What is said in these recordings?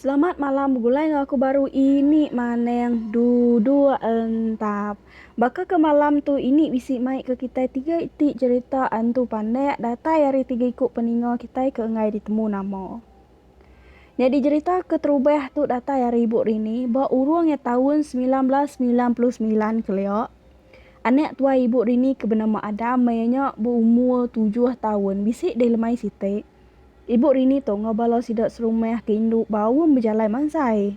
Selamat malam begulai enggau aku baru ini maneng duduk entap baka ke malam tu ini bisi mai ke kitai tiga iti cerita antu panek datai ari tiga iku peninga kitai ke enggai ditemu nama. Nyadi jerita keterubah tu datai ari ibu Rini ba urung iya taun semilan belas semilan puluh semilan kelia. Anak tuai ibu Rini ke benama Adam maya nya beumur tujuh taun bisi deh lemai siti. Ibu Rini tu enggau bala sida serumah ke indu baum bejalai mansai.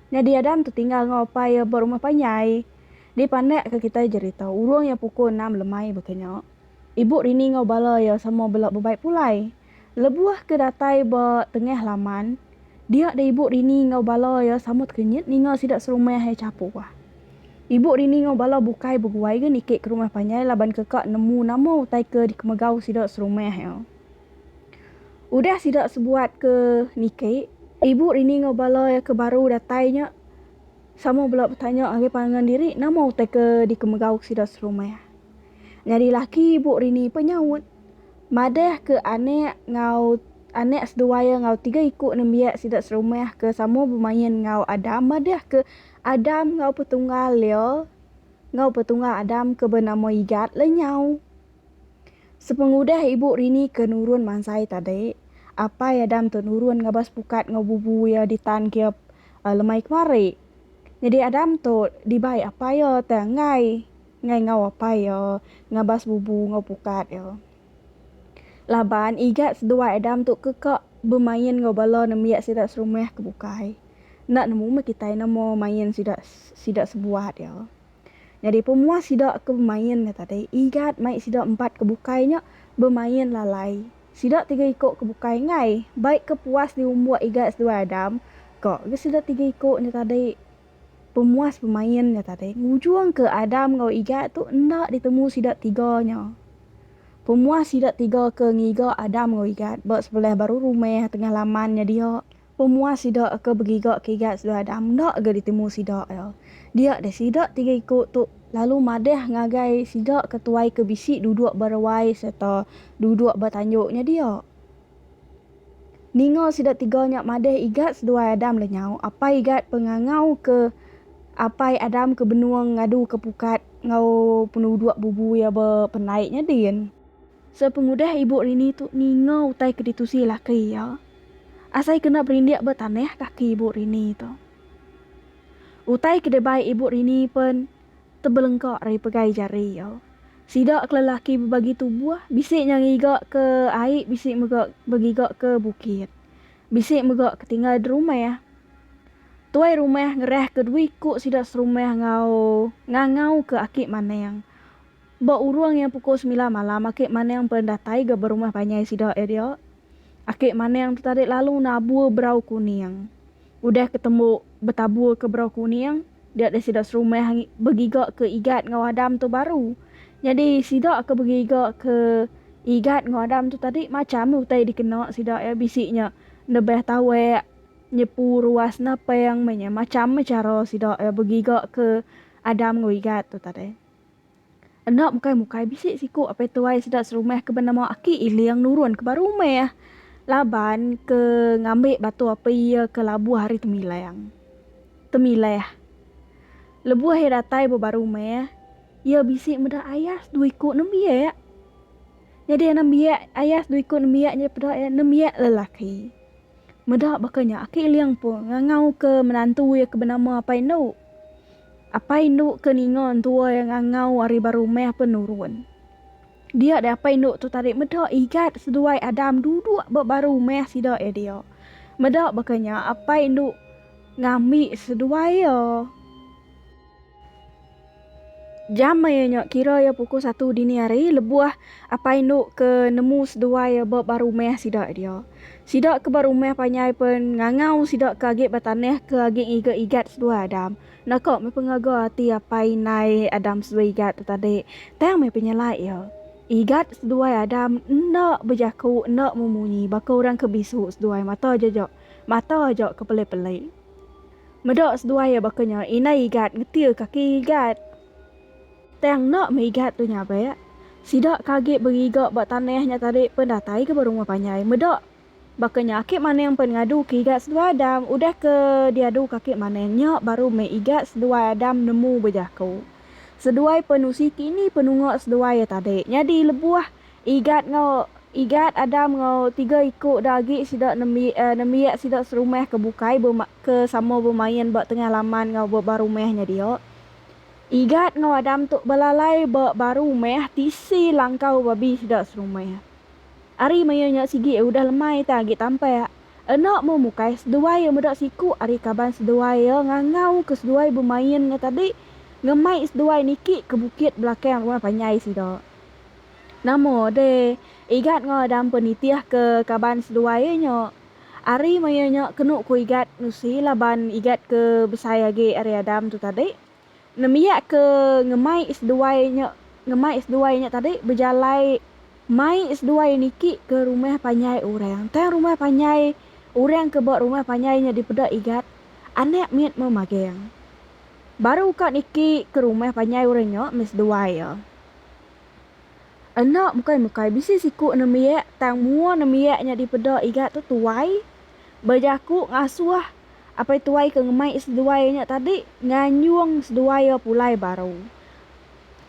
Nyadi Adam tu tinggal enggau apai iya ba rumah panjai. Dipandakka kitai jerita urung iya pukul enam lemai baka nya. Ibu Rini enggau bala iya sama bela bebai pulai. Lebuh ke datai ba tengah laman, dia deh ibu Rini enggau bala iya samut kenyit ninga sida serumah ai chapua. Ibu Rini enggau bala bukai beguai ga niki ke rumah panjai laban ke ka nemu nama utai ke dikemegau sida serumah iya. Udah sida sebuat ke niki, ibu Rini enggau bala iya ke baru datai nya sama bela betanya ngagai pangan diri nama utai ke dikemegau sida serumah. Nyadi laki ibu Rini peh nyaut. Madah ke anak enggau anak seduai iya enggau tiga iku nembiak sida serumah ke sama bemain enggau Adam madah ke Adam enggau petunggal iya enggau petunggal Adam ke benama Igat lenyau. Sepengudah ibu Rini ke nurun mansai tadi, apai Adam tu nurun ngabas pukat enggau bubu iya di tan ke lemai kemari. Nyadi Adam tu dibai apai iya tang enggai. enggai enggau apai iya ngabas bubu enggau pukat iya. Laban igat seduai Adam tu ke ka bemain enggau bala nembiak sida serumah ke bukai, enda nemu meh kitai nama main sida sida sebuat iya. Nyadi pemuas sida ke bemain nya tadi, igat mai sida empat ke bukai nya bemain lalai. Sida tiga iko ke bukai enggai baik ke puas diumbuk igat seduai Adam, ka ga sida tiga iko nya tadi. Pemuas pemain nya tadi ngujungka Adam enggau Igat tu enda ditemu sida tiga nya. Pemuas sida tiga ke ngiga Adam enggau Igat ba sebelah baru rumah tengah laman nya dia. Pemuas sida ke begiga ke Igat seduai Adam enda ga ditemu sida iya. Dia deh sida tiga iku tu lalu madah ngagai sida ke tuai ke bisi duduk ba ruai sereta duduk ba tanjung nya dia. Ninga sida tiga nya madeh Igat seduai Adam lenyau. Apai Igat pengangau ke apai Adam ke benung ngadu ke pukat enggau penuduk bubu iya ba pendai nya din. Sepengudah ibu Rini tu ninga utai ke ditusi laki iya, asai kena berindik ba tanah kaki ibu Rini tu. Utai ke dibai ibu Rini pen. tebelengka ari pegai jari iya. Sida ke lelaki bebagi tubuh, bisi nya ngiga ke ai bisi mega begiga ke bukit. Bisi mega ke tinggal derumah. Tuai rumah ngerahka dua iku sida serumah enggau ngangauka aki maning. Ba urung iya pukul sembilan malam aki Maning pen datai ga berumah panjai sida iya dia. Aki Maning tu tadi lalu nabur berau kuning. Udah ke tembu betabur ke berau kuning, dia deh sida serumah begiga ke Igat enggau Adam tu baru. Nyadi sida ke begiga ke Igat enggau Adam tu tadi macham utai dikena sida iya bisi nya nebah tawak, nyepu ruas napang meh nya macham meh chara sida iya begiga ke Adam enggau Igat tu tadi. Enda mukai-mukai bisi siku apai tuai sida serumah ke benama Aki Iling nurun ke ba rumah laban ke ngambi batu api iya ke labuh ari temilang temilah. Lebuh iya datai ba ba rumah, iya bisi meda ayas dua iku nembiak. Nyadi anak nembiak ayas dua iku nembiak nya peda iya nembiak lelaki. Meda baka nya Aki Iling pun ngangau ke menantu iya ke benama Apai Endu. Apai indu ke ninga entua iya ngangau ari ba rumah penurun. Dia deh apai indu tu tadi meda Igat seduai Adam duduk ba ba rumah sida iya dia. Meda baka nya apai indu ngambi seduai iya. Jam maya nya kira iya pukul satu dini hari lebuh apai indu ke nemu seduai iya ba ba rumah sida iya dia. Sida ke ba rumah panjai pen ngangau sida ke agi ba tanah ke agi ngiga igat seduai Adam. Enda ka meh pengaga ati apai indai Adam seduai igat tu tadi, tang meh penyalai iya. Igat seduai Adam enda bejaku enda memunyi baka orang ke bisu seduai mata jaja mata aja ke peli-peli. Meda seduai iya baka nya indai igat ngetir kaki igat. Tang enda merigat tu nya be. Sida ke agi beriga ba tanah nya tadi pen datai ke ba rumah panjai. Meda baka nya aki Maneng pen ngadu ke igat seduai Adam. Udah ke diadu ke aki Maneng nya baru meh igat seduai Adam nemu bejaku. Seduai penusi ke ini penunga seduai iya tadi. Nyadi lebuh igat enggau igat Adam enggau tiga iku da agi sida nembiak nembiak sida serumah ke bukai ke sama bemain ba tengah laman enggau ba rumah nya dia. Igat enggau Adam tu belalai ba baru meh tisi langkau babi sida serumah. Ari maya nya sigi iya udah lemai tang agi tampak. Enda meh mukai seduai iya meda siku ari kaban seduai iya ngangau ke seduai bemain nya tadi ngemai seduai niki ke bukit belakang rumah panjai sida. Nama deh Igat enggau Adam pun nitih ke kaban seduai iya nya. Ari maya nya kenu ku Igat nusi laban Igat ke besai agi ari Adam tu tadi. Nembiak ke ngemai seduai nya ngemai seduai nya tadi bejalai mai seduai niki ke rumah panjai orang. Tang rumah panjai orang ke ba rumah panjai nya dipeda Igat, anak mit meh magang. Baru ka niki ke rumah panjai orang nya meh seduai iya. Enda bukai bukai bisi siku nembiak tang mua nembiak nya dipeda Igat tu tuai bejaku ngasuh. Apai tuai ke ngemai seduai nya tadi nganyung seduai iya pulai baru.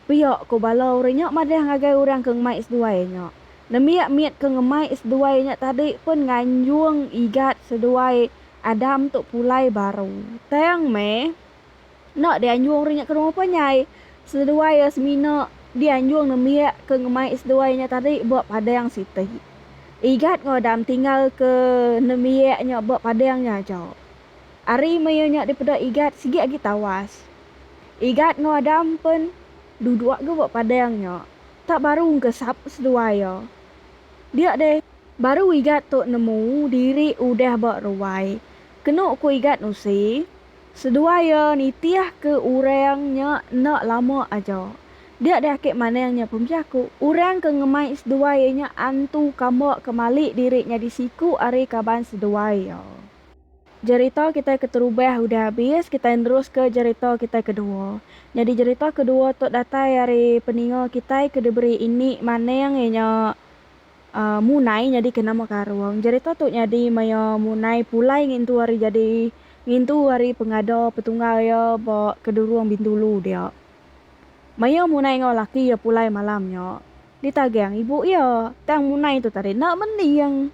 Pia ko bala orang nya madah ngagai orang ke ngemai seduai nya. Nembiak mit ke ngemai seduai nya tadi pun nganyung igat seduai Adam tu pulai baru. Tang meh, Enda dianjung ri nya ke rumah panjai. Seduai iya semina dianjung nembiak ke ngemai seduai nya tadi ba padang siti. Igat enggau Adam tinggalka nembiak nya ba padang nya aja. Ari maya nya dipeda Igat sigi agi tawas. Igat enggau Adam pen duduk ga ba padang nya. Tak baru engka sapa seduai iya. Dia deh, baru Igat tu nemu diri udah ba ruai. Kenu ku Igat nusi, Seduai iya nitihka orang nya enda lama aja. Dia deh ake manang nya pembiaku. Orang ke ngemai seduai iya nya antu kamba ke malik diri nyadi siku ari kaban seduai iya. Jerita kitai keterubah udah abis, kitai neruska jerita kitai kedua. Nyadi jerita kedua tu datai ari peninga kitai ke diberi ini manang iya nya Munai nyadika nama karung jerita tu nyadi maya Munai pulai ngintu ari jadi ngintu ari pengada petunggal iya ba Kedurung Bintulu dia. Maya Munai enggau laki iya pulai malam nya, ditagang ibu iya, tang Munai tu tadi enda mending.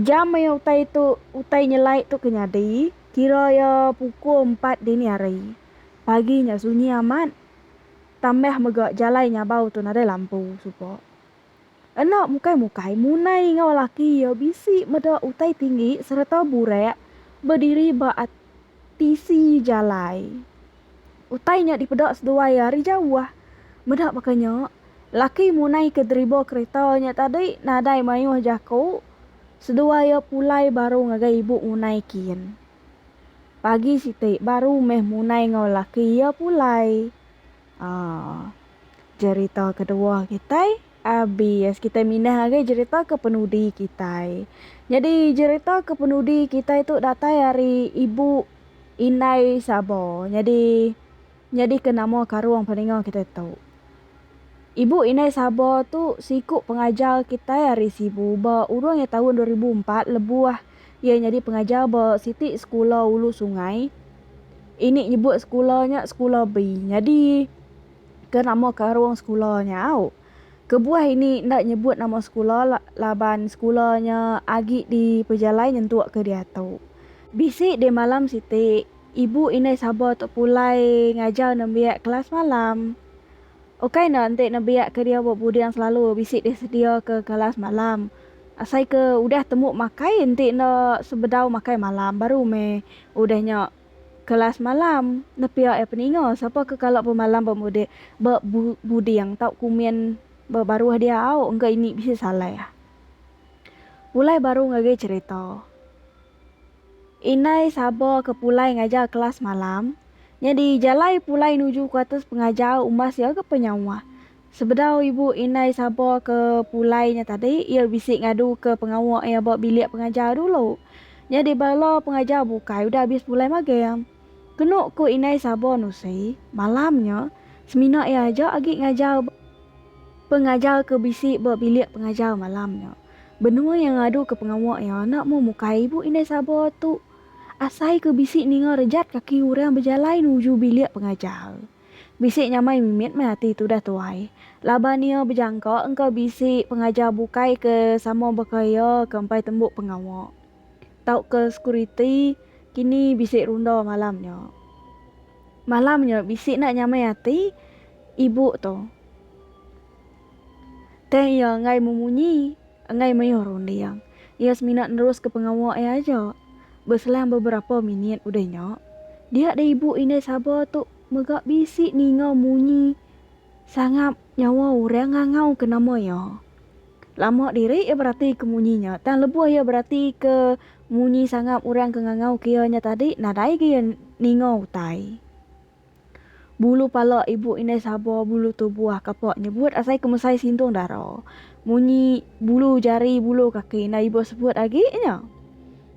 Jam maya utai tu utai nyelai tu ke nyadi, kira iya pukul empat dini hari. Pagi nya sunyi amat, tambah mega jalai nyabau tu nadai lampu suba. Enda mukai-mukai, Munai enggau laki iya bisi meda utai tinggi sereta burak bediri ba tisi jalai. Utai nya dipeda seduai ari jauh. Meda baka nya, laki Munai ke deriba kereta nya tadi nadai mayuh jaku seduai iya pulai baru ngagai ibu Munai kin. Pagi siti baru meh Munai enggau laki iya pulai. Aaa. Jerita kedua kitai abis kitai mindah ngagai jerita kepenudi kitai. Nyadi jerita kepenudi kitai tu datai ari ibu indai sabo nyadi nyadika nama karung peninga kitai tu. Ibu indai sabo tu siku pengajar kitai ari sibu ba urung iya taun dua ribu empat lebuh Iya nyadi pengajar ba siti sekula ulu sungai. Ini nyebut sekula nya Sekula Bi. Nyadi ke nama karung sekula nya au. Kebuah ini enda nyebut nama sekula laban sekula nya agi dipejalai nyentuk ke diatu. Bisi deh malam siti, ibu indai Saba tu pulai ngajar nembiak kelas malam. Ukai enda enti nembiak ke diau ba Buding selalu bisi deh sedia ke kelas malam. Asai ke udah temu makai enti enda sebedau makai malam baru meh udah nya kelas malam nepia iya peninga sapa ke kala pemalam ba mudih ba buding tau kumin ba baruh diau engka ini bisi salai ah. Pulai baru ngagai cherita. Indai saba ke pulai ngajar kelas malam nyadi jalai pulai nuju kuatas pengajar umbas iya ke penyauh Sebedau ibu indai Sabo ke pulai nya tadi, iya bisi ngaduka pengawa iya ba bilik pengajar dulu. Nyadi bala pengajar bukai udah abis pulai magem. Kenu ku Indai Sabo Nusi, malam nya, semina iya aja agi ngajar ba pengajar ke bisi ba bilik pengajar malam nya. Benua iya ngaduka pengawa iya enda mung mukai ibu indai Sabo tu asai ke bisi ninga rejat kaki orang bejalai nuju bilik pengajar. Bisi nyamai mimit meh ati tudah tuai laban iya bejangka engka bisi pengajar bukai ke sama baka iya ke empai tembu pengawa tauka sekuriti kini bisi runda malam nya. Malam nya bisi enda nyamai ati ibu tu. Tang iya enggai memunyi enggai mayuh runding. Iya semina neruska pengawa iya aja. Beselang beberapa minit udah nya, dia deh ibu indai Saba tu mega bisi ninga munyi sangap nyawa orang ngangauka nama iya. Lama diri iya beratika munyi nya tang lebuh iya beratika munyi sangap orang ke ngangauka iya nya tadi nadaiga iya ninga utai. Bulu pala ibu indai saba bulu tubuh kapa nyebut asai ke mesai sindung dara. Munyi bulu jari bulu kaki enda ibuh sebut agi nya.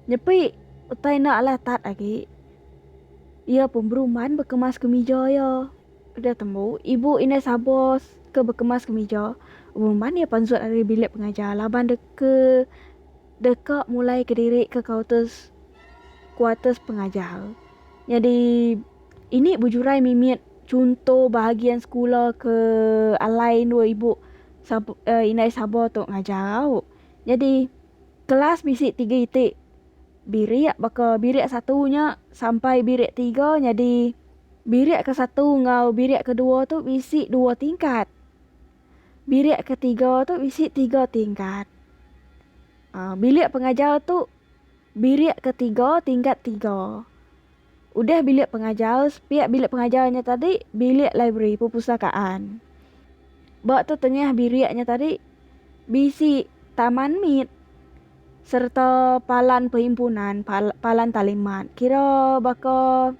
Nyepi utai enda alah tat agi. Iya pun berumban bekemas kemija iya. Udah tembu ibu indai saba ke bekemas kemija berumban iya pansut ari bilik pengajar laban deka. Deka mulai ke diri ke kauters kuaters pengajar. Nyadi ini bujurai mimit chunto bahagian sekula ke alai endur ibu sab eh indai sabar tu ngajar au. Nyadi kelas bisi tiga iti birik baka birik satu nya sampai birik tiga nyadi birik ke satu enggau birik ke dua tu bisi dua tingkat. Bilik ketiga tu bisi tiga tingkat. Um bilik pengajar tu bilik ketiga tingkat tiga. Udah bilik pengajar, sepiak bilik pengajar nya tadi bilik library, perpustakaan. Ba tetengah bilik nya tadi bisi taman mit sereta palan perhimpunan, pal palan talimat. Kira baka,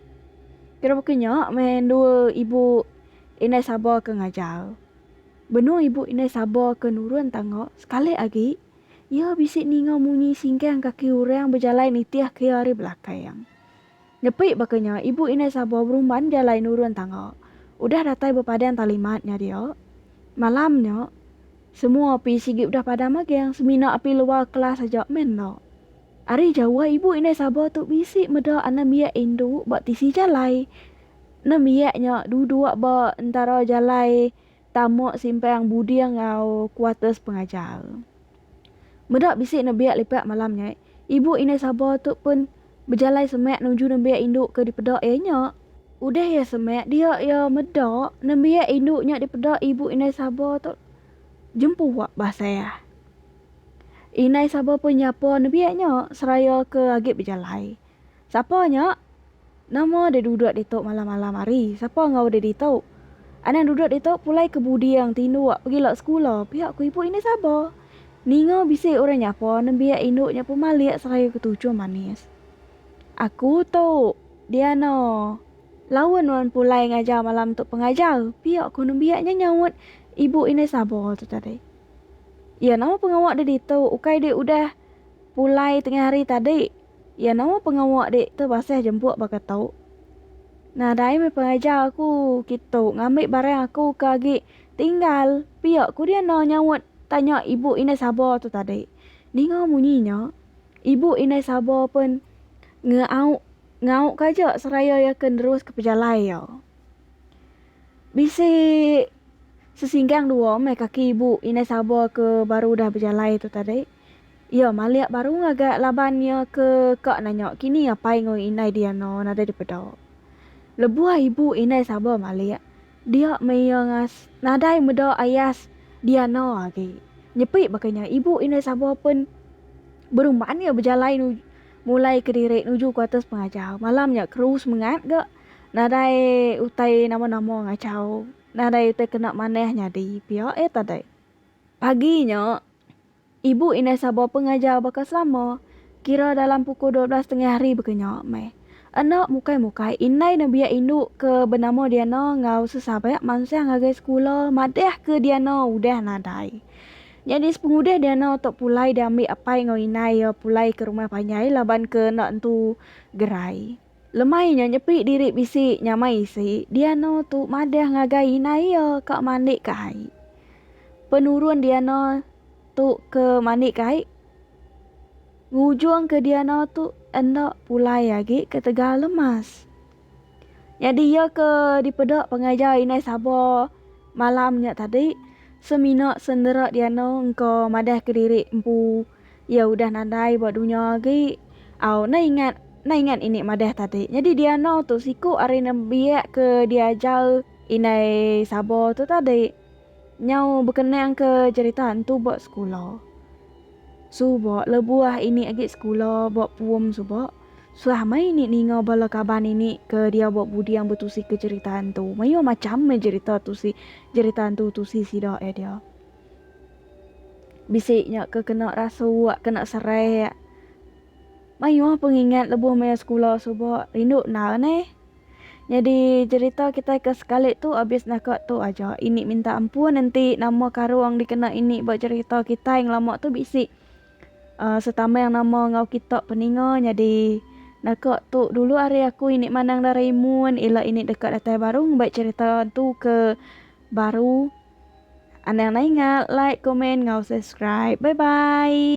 kira baka nya meh endur ibu. Indai Sabo ke ngajar. Benung ibu Indai Sabo ke nurun tangga, sekali agi iya bisi ninga munyi singgang kaki orang bejalai nitih ke iya ari belakang. Nepi baka nya, ibu Indai Sabo berumban jalai nurun tangga, udah datai bepadan talimat nya dia. Malam nya, semua api sigi udah padam magang, semina api luar kelas aja meh enda. Ari jauh ibu Indai Sabo tu bisi meda anembiak indu ba tisi jalai, Nembiak nya duduk ba entara jalai tama Simpang Buding enggau kuarters pengajar. Meda bisi nembiak lipat malam nya, ibu indai Saba tu pun bejalai semak nuju nembiak indu ke dipeda iya nya. Udah iya semak dia iya meda nembiak indu nya dipeda ibu indai Saba tu jempuak basah. Indai Saba pun nyapa nembiak nya seraya ke agi bejalai Sapa nya? Nama deh duduk ditu malam-malam hari? Sapa enggau deh ditu? Anang duduk ditu pulai ke buding tinduk pegila sekula, pia ku ibu Inis Aba. Ninga bisi orang nyapa nembiak indu nya pemalik seraya ketuchum manis. Aku tu, Diana. Laun nuan pulai ngajar malam tu pengajar, pia ku nembiak nya nyaut ibu Inis Aba tu tadi. Iya, nama pengawa deh ditu ukai deh udah pulai tengah hari tadi? Iya nama pengawa dik tu basah jempuk baka tu. Nah dai meh pengajar aku kitu ngambi barang aku ke agi tinggal pia ku dia enda nyaut tanya ibu indai saba tu tadi. Ninga munyi nya ibu indai saba pen ngeau ngau ka aja seraya iya ke nerus ke pejalai iya. Bisi sesinggang dua meh kaki ibu indai saba ke baru udah bejalai tu tadi. Iya malik baru ngagai laban iya ke ka nanya kini apai enggau indai Diana nadai dipeda. Lebuh ibu indai Saba malik, dia meh iya ngas nadai meda ayas Diana agi. Nyepi baka nya, ibu indai Saba pen berumban iya bejalai nuju mulai kediri nuju ke atas pengajar. Malam nya keru semengat ga nadai utai nama-nama ngachau, nadai utai kena manah nyadi pia eh tadai. Pagi nya. Ibu indai Sabo pengajar baka selama, kira dalam pukul dua belas tengah hari baka nya meh. Enda mukai-mukai, indai nebiak indu ke benama Diana enggau sesabat mansang ngagai sekula madahka Diana udah nadai. Nyadi sepengudih Diana tu pulai diambi apai enggau indai iya pulai ke rumah panjai laban ke enda entu gerai. Lemai nya nyepi diri bisi nyamai isi Diano tu madah ngagai indai iya ka mandik ka ai. Penurun Diano tu ke mandik ka ai ngujung ke Diano tu enda pulai agi ketegal lemas. Nyadi iya ke dipeda pengajar indai Saba malam nya tadi semina sendera Diano engka madah kediri empu. Iya udah nadai ba dunya agi. Au, enda ingat, enda ingat ini madah tadi. Nyadi diano tu siku ari nembiak ke diajar indai Sabo tu tadi. Nyau bekenang ke cherita entu ba sekula. Suba lebuh ini agi sekula ba pum suba, suah meh ini ninga bala kaban ini ke dia ba buding betusi ke cherita entu. Mayuh macham meh cherita tusi, cherita entu tusi sida eh dia. Bisi nya ke kena rasuak, kena serak. Mayuh pengingat lebuh maya sekula suba rindu endar neh. Nyadi cerita kitai ke sekali tu abis naka tu aja. Ini minta ampun enti nama karung dikena ini ba cerita kitai ngelama tu bisi uhh setameng nama enggau kita peninga nyadi naka tu dulu ari aku ini mandang Doraemon ila ini deka datai baru ngumbai cerita hantu ke baru. Anang nai inga like komen ngau subscribe bye bye.